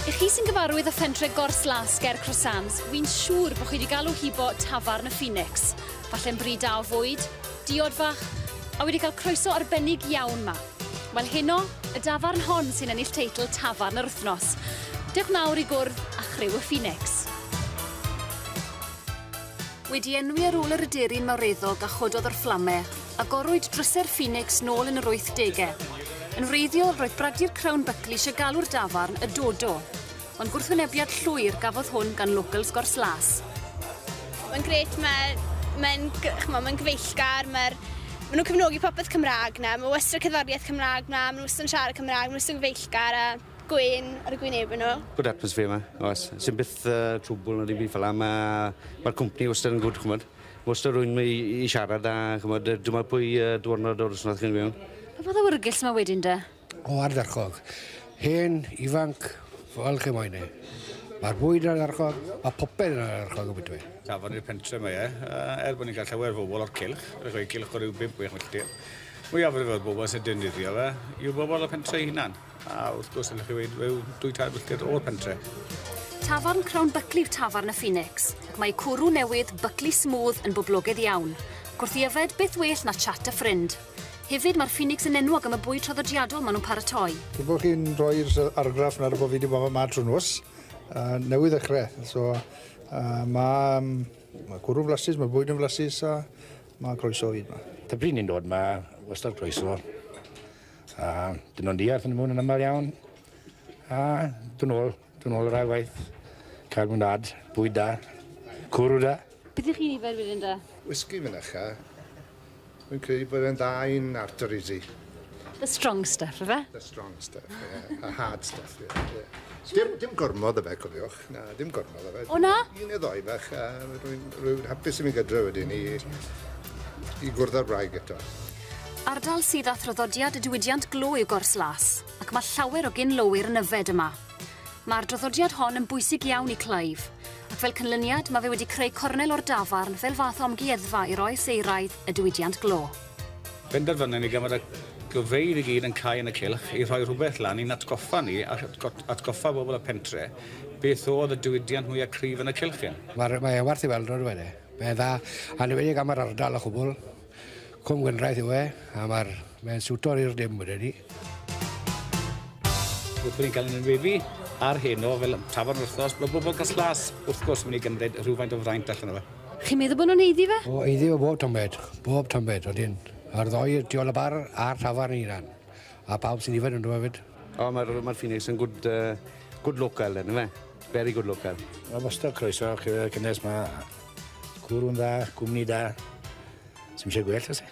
I chi sy'n gyfarwydd â phentre Gors Las ger Croissants, fi'n siŵr bod chi wedi galw hibo tafarn y Phoenix. Falle'n bri da o fwyd, diod fach, a wedi cael croeso arbennig iawn ma. Wel heno, y dafarn hon sy'n ennill teitl Tafarn yr Wythnos. Dewch nawr i gwrdd â chryw y Phoenix. Wedi enwi ar ôl yr aderyn mawreddog a chododd o'r fflamau, agorwyd drysau'r Phoenix nôl yn yr 80au. Yn wreiddiol, roedd Brady'r Crown Buckley eisiau galw'r dafarn y Dodo, ond gwrthwynebiad llwyr gafodd hwn gan locals Gors Las. Mae'n gret, mae'n mae chmo, mae gyfeillgar, mae ma nhw'n cefnogi popeth Cymraeg na, mae wastad cerddoriaeth Cymraeg na, mae nhw wastad yn siarad Cymraeg, mae nhw wastad yn gyfeillgar a gwên ar y gwynebau nhw. Good atmosphere yma, oes. Sy'n byth uh, trwbl na ddim byd fel yna. Mae'r ma cwmni wastad yn gwrdd, chymod. Mae wastad rwy'n i, i siarad a, chymod, dyma pwy uh, dwrnod o'r wythnos chi'n mewn. Pa fath o wrgylls mae wedyn da? O ardderchog. Hen, ifanc, fel chi moyn e. Mae'r bwyd yn ardderchog, mae popeth yn ardderchog o bydwy. Tafod i'r pentre mae e, er bod ni'n cael llawer fobl o'r cilch, rydych chi'n cilch o ryw 5-6 milltir. Mwyafrif o'r bobl sy'n defnyddio fe yw bobl o'r pentre hunan. A wrth gwrs, allwch chi weud, rhyw dwy tair filltir o'r pentre. Tafarn Crown Buckley yw tafarn y Phoenix, ac mae cwrw newydd Buckley Smooth yn boblogaidd iawn. Gwrth yfed, beth well na chat a ffrind. Hefyd, mae'r Phoenix yn enwog am y bwyd traddodiadol maen nhw'n paratoi. Dwi'n gwybod chi'n rhoi'r argraff nawr bod fi wedi bod yma trwy nos, uh, newydd ddechrau. So, uh, mae, um, mae cwrw flasus, mae bwyd yn flasus a mae croeso fi yma. Ta bryd ni'n dod yma, wastad croeso. A dyn nhw'n diarth yn y mwn yn aml iawn. A dyn nhw'n dyn nhw'n rhaid waith. Cael mwynhad, bwyd da, cwrw da. Beth ych chi'n yfed wedyn da? Whisky fynycha. Fi'n credu bod e'n dda i'n arteries i. The strong stuff, ife? The strong stuff, ie. A hard stuff, ie. Dim, dim gormod o fe, cofiwch. Na, dim gormod o fe. O na? Un neu ddoi bach, a rwy'n rwy hapus i mi gydra wedyn i, i gwrdd â'r wraig eto. Ardal sydd â thraddodiad y diwydiant glo yw Gors Las, ac mae llawer o gyn-lowyr yn yfed yma. Mae'r draddodiad hon yn bwysig iawn i Clive, ac fel cynlyniad mae fe wedi creu cornel o'r dafarn fel fath o amgueddfa i'r oes euraidd y diwydiant glo. Penderfynon ni gan fod y gofeydd i gyd yn cau yn y cylch i rhoi rhywbeth lan i'n atgoffa ni a atgoffa bobl y pentre beth o'dd y diwydiant mwya cryf yn y cylch hyn. Mae mae e werth ei weld on'd yw e? Mae e'n dda, anwedig am yr ardal a chwbwl. Cwm Gwendraeth yw e, a ma'r mae'n siwto'r i'r dim wedyn ni. Wrth bo ni'n ca'l ein weddi ar heno fel tafarn wrthnos, ma' bobol Cas-las wrth gwrs myn' i gymryd rhywfaint o fraint allan o fe. Chi'n meddwl bod nhw'n haeddu fe? O, haeddu fo bob tamed, bob tamed, odyn. A'r ddoi tu ol y bar a'r tafarn ei hunan. A pawb sy'n yfed ynddo hefyd. O, mae'r mae'r Phoenix yn gwd yy gwd local yn yfe? Very good local. Wel wastad croeso chi y cynnes ma. Cwrw'n dda, cwmni da. Sdim isie gwell o's e?